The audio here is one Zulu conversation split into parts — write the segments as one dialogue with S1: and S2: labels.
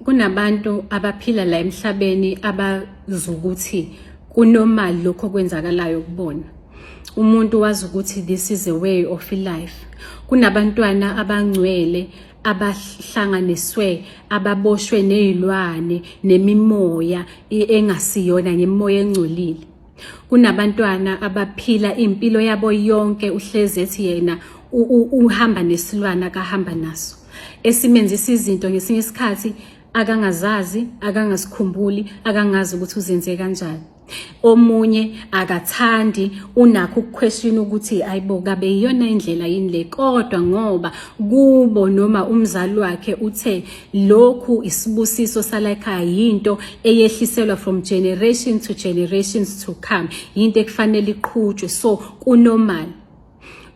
S1: kunabantu abaphila la emhlabeni abazukuthi kunomali lokho kwenzakalayo kubona umuntu wazi ukuthi this is a way of life kunabantwana abangcwele abahlanganiswe ababoshwe nezilwane nemimoya engasiyona ngemimoya engcolile kunabantwana abaphila impilo yabo yonke uhlezi ethi yena uhamba nesilwana akahamba naso esimenzisa izinto ngesinye isikhathi akangazazi akangasikhumbuli akangazi ukuthi uzenze kanjani omunye akathandi unakho ukuquestion ukuthi ayibo kabe iyona indlela yini le kodwa ngoba kubo noma umzali wakhe uthe Lokhu isibusiso salayikhaya yinto eyehliselwa from generation to generations to come. Yinto ekufanele iqhutshwe so kunormal.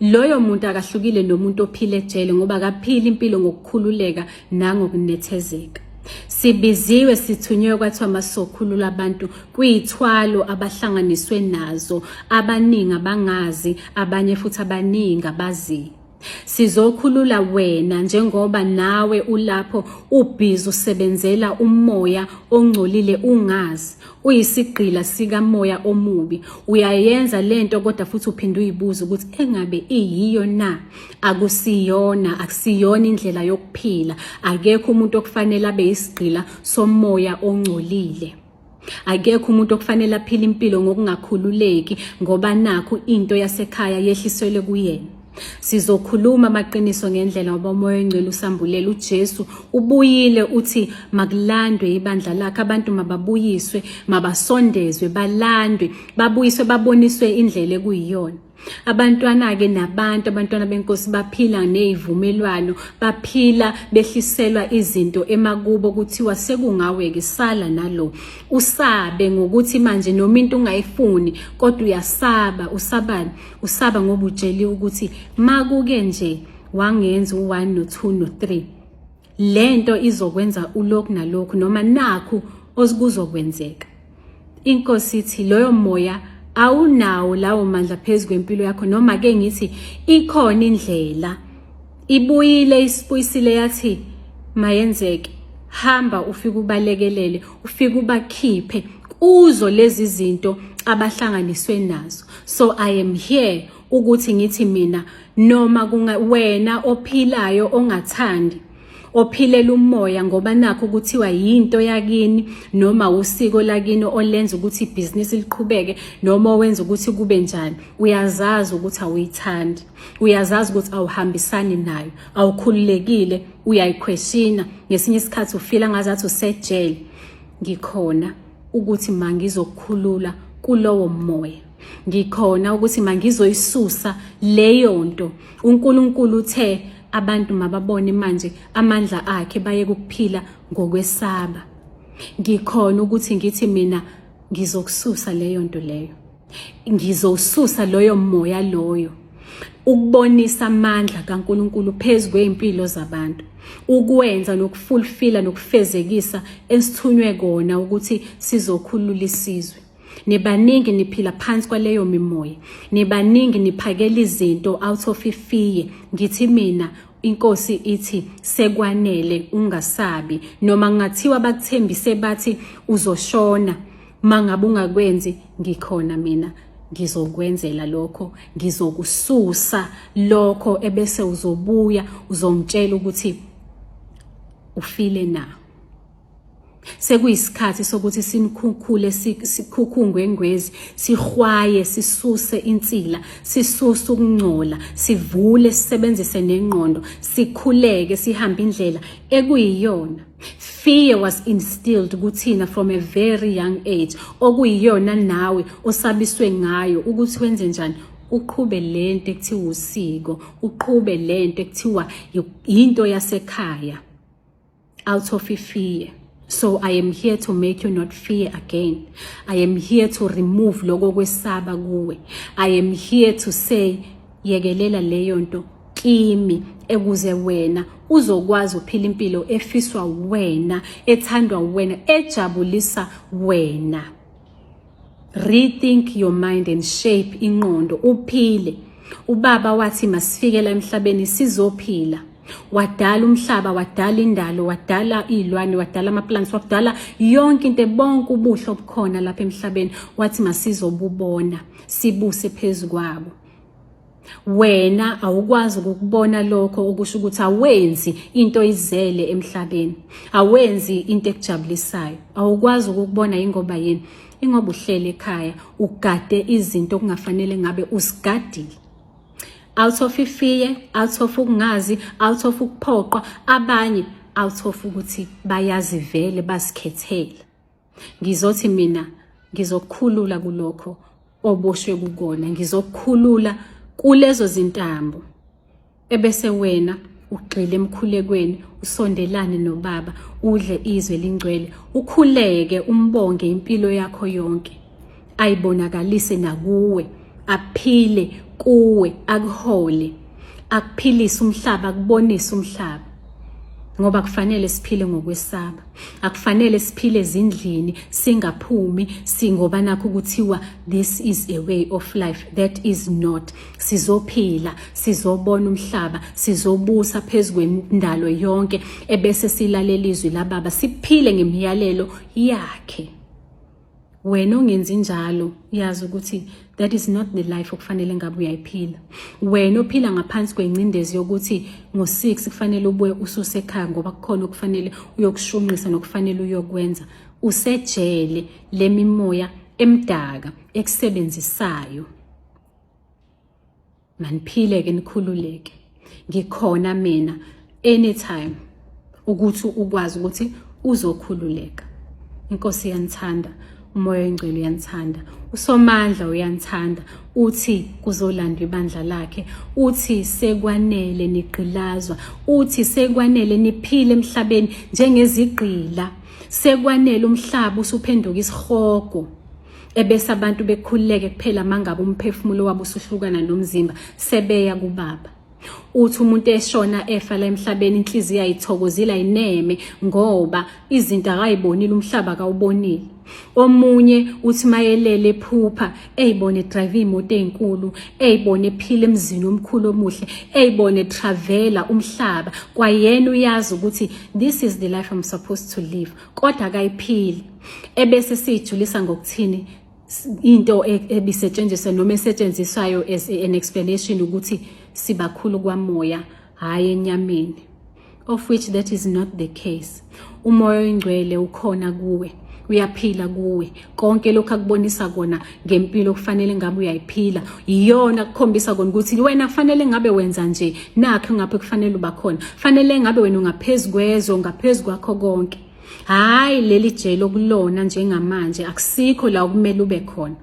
S1: Loyo muntu akahlukile nomuntu ophile ejele ngoba akaphila impilo ngokukhululeka nangokunethezeka. Sibiziwe sithunywe kwathiwa masokhulula abantu kuyithwalo abahlanganiswe nazo abaningi abangazi abanye futhi abaningi abaziyo. Sizokhulula wena njengoba nawe ulapho ubhizi usebenzela umoya ongcolile ungazi uyisigqila sikamoya omubi uyayenza lento kodwa futhi uphinde uyibuza ukuthi engabe iyiyo na akusiyona akusiyona indlela yokuphila akekho umuntu okufanele abe isigqila somoya ongcolile Akekho umuntu okufanele aphile impilo ngokungakhululeki ngoba nakho into yasekhaya yehliselwe kuyena. Sizokhuluma amaqiniso ngendlela ngoba umoya oyingcwele usambulela uJesu ubuyile uthi makulandwe ibandla lakhe abantu mababuyiswe mabasondezwe balandwe babuyiswe baboniswe indlela ekuyiyona abantwana-ke nabantu abantwana benkosi baphila ney'vumelwano baphila behliselwa izinto emakubo kuthiwa sekungawe-ke sala nalo usabe ngokuthi manje noma into ungayifuni kodwa uyasaba usabani usaba ngoba utsheliwe ukuthi makuke nje wangenza u-one no-two no-three le nto izokwenza ulokhu nalokhu noma nakhu osikuzokwenzeka inkosi ithi loyo moya awunawo lawo mandla phezu kwempilo yakho noma ke ngithi ikhona indlela ibuyile isibuyisile yathi mayenzeke hamba ufike ubalekelele ufike ubakhiphe kuzo lezi zinto abahlanganiswe nazo so i am here ukuthi ngithi mina noma kunga wena ophilayo ongathandi ophilela umoya ngoba nakho kuthiwa yinto yakini noma usiko lakini olenza ukuthi ibhizinisi liqhubeke noma owenza ukuthi kube njani uyazazi ukuthi awuyithandi uyazazi ukuthi awuhambisani nayo awukhululekile uyayikhweshina ngesinye isikhathi ufila ngazathi usejele ngikhona ukuthi mangizokukhulula kulowo moya ngikhona ukuthi mangizoyisusa leyo nto uNkulunkulu uthe abantu mababone manje amandla akhe baye kuphila ngokwesaba ngikhona ukuthi ngithi mina ngizokususa leyo nto leyo ngizosusa loyo moya loyo ukubonisa amandla kaNkuluNkulu phezu kweimpilo zabantu ukwenza nokufulfila nokufezekisa esithunywe kona ukuthi sizokhulula isizwe nibaningi niphila phansi kwaleyo mimoya nibaningi niphakela izinto out of ifear ngithi mina inkosi ithi sekwanele ungasabi noma ngathiwa bakuthembise bathi uzoshona mangabe ungakwenzi ngikhona mina ngizokwenzela lokho ngizokususa lokho ebese uzobuya uzongitshela ukuthi ufile na sekuyisikhathi sokuthi sinikhukhule sikhukhungwe ngwezi sihwaye sisuse insila sisuse ukungcola sivule sisebenzise nengqondo sikhuleke sihambe indlela ekuyiyona fear was instilled kuthina from a very young age okuyiyona nawe osabiswe ngayo ukuthi wenze njani uqhube lento ekuthiwa usiko uqhube lento ekuthiwa into yasekhaya out of fear so i am here to make you not fear again i am here to remove lokho kwesaba kuwe i am here to say yekelela leyo nto kimi ekuze wena uzokwazi uphila impilo efiswa wena ethandwa wena ejabulisa wena rethink your mind and shape inqondo uphile ubaba wathi masifikela emhlabeni sizophila wadala umhlaba wadala indalo wadala izilwane wadala amaplants wadala yonke into bonke ubuhle obukhona lapha emhlabeni wathi masizobubona sibuse phezukwabo wena awukwazi ukukubona lokho okusho ukuthi awenzi into izele emhlabeni awenzi into ekujabulisayo awukwazi ukukubona ingoba yini ingoba uhlele ekhaya ugade izinto okungafanele ngabe usigadile out of ifear out of ukungazi out of ukuphoqwa abanye out of ukuthi bayazivele basikhethele Ngizothi mina ngizokukhulula kulokho oboshwe kukona, ngizokukhulula kulezo zintambo ebese wena ugxile emkhulekweni usondelane nobaba udle izwe lingcwele ukhuleke umbonge impilo yakho yonke ayibonakalise nakuwe aphile kuwe akuhole akuphilise umhlaba akubonise umhlaba ngoba kufanele siphile ngokwesaba akufanele siphile ezindlini singaphumi singoba nakho kuthiwa this is a way of life that is not sizophila sizobona umhlaba sizobusa phezu kwendalo yonke ebese silalela izwi lababa siphile ngemiyalelo yakhe wena ongenzi njalo uyazi ukuthi that is not the life okufanele ngabe uyayiphila wena ophila ngaphansi kwengcindezi yokuthi ngo-6 kufanele ubuye ususe ekhaya ngoba kukhona okufanele uyokushunqisa nokufanele uyokwenza usejele le mimoya emdaka ekusebenzisayo maniphile ke nikhululeke ngikhona mina anytime ukuthi ukwazi ukuthi uzokhululeka inkosi yanithanda umoya oyingcwele uyanithanda usomandla uyanithanda uthi kuzolandwa ibandla lakhe uthi sekwanele nigqilazwa uthi sekwanele niphile emhlabeni njengezigqila sekwanele umhlaba usuphenduka isihogo ebese abantu bekhululeke kuphela mangabe umphefumulo wabo usuhlukana nomzimba sebeya kubaba uthi umuntu eshona efa la emhlabeni inhliziyo ayithokozile ayineme ngoba izinto akayibonile umhlaba akawubonile omunye uthi mayelele ephupha eyibone edrive imoto ezinkulu eyibone ephila emzini omkhulu omuhle eyibone travela umhlaba kwayena uyazi ukuthi this is the life i'm supposed to live kodwa akayiphili ebese siyijulisa ngokuthini into e, ebisetshenziswa noma esetshenziswayo as an explanation ukuthi sibakhulu kwamoya hhayi enyameni of which that is not the case umoya oyingcwele ukhona kuwe uyaphila kuwe konke lokho akubonisa kona ngempilo kufanele ngabe uyayiphila iyona kukhombisa kona ukuthi wena kufanele ngabe wenza nje nakho ngapha kufanele uba khona fanele ngabe wena ungaphezulu kwezwe ungaphezulu kwakho konke hayi leli jele okulona njengamanje akusikho la okumele ube khona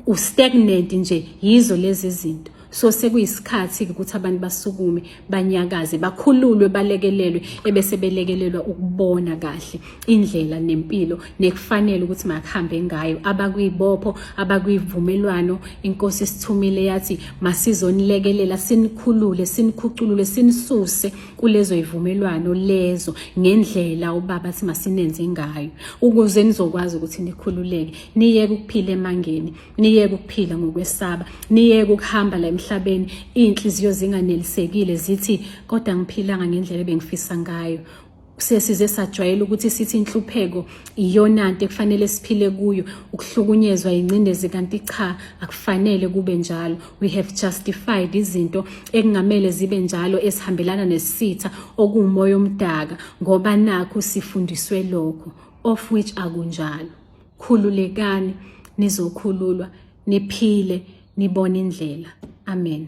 S1: ustagnant nje yizo lezi zinto so sekuyisikhathi ukuthi abantu basukume banyakaze bakhululwe balekelelwe ebese belekelelwa ukubona kahle indlela nempilo nekufanele ukuthi makuhambe ngayo abakwibopho abakwivumelwano inkosi sithumile yathi masizonilekelela sinikhulule sinikhuculule sinisuse kulezo ivumelwano lezo ngendlela ubaba simasinenze ngayo ukuze nizokwazi ukuthi nikhululeke niyeke ukuphila emangeni niyeke ukuphila ngokwesaba niyeke ukuhamba la emhlabeni iy'nhliziyo zinganelisekile zithi kodwa ngiphilanga ngendlela ebengifisa ngayo sesize sajwayela ukuthi sithi inhlupheko iyona nto ekufanele siphile kuyo ukuhlukunyezwa ingcindezi kanti cha akufanele kube njalo we have justified izinto ekungamele zibe njalo esihambelana nesitha okuwumoya omdaka ngoba nakho sifundiswe lokho of which akunjalo khululekani nizokhululwa niphile nibone indlela amen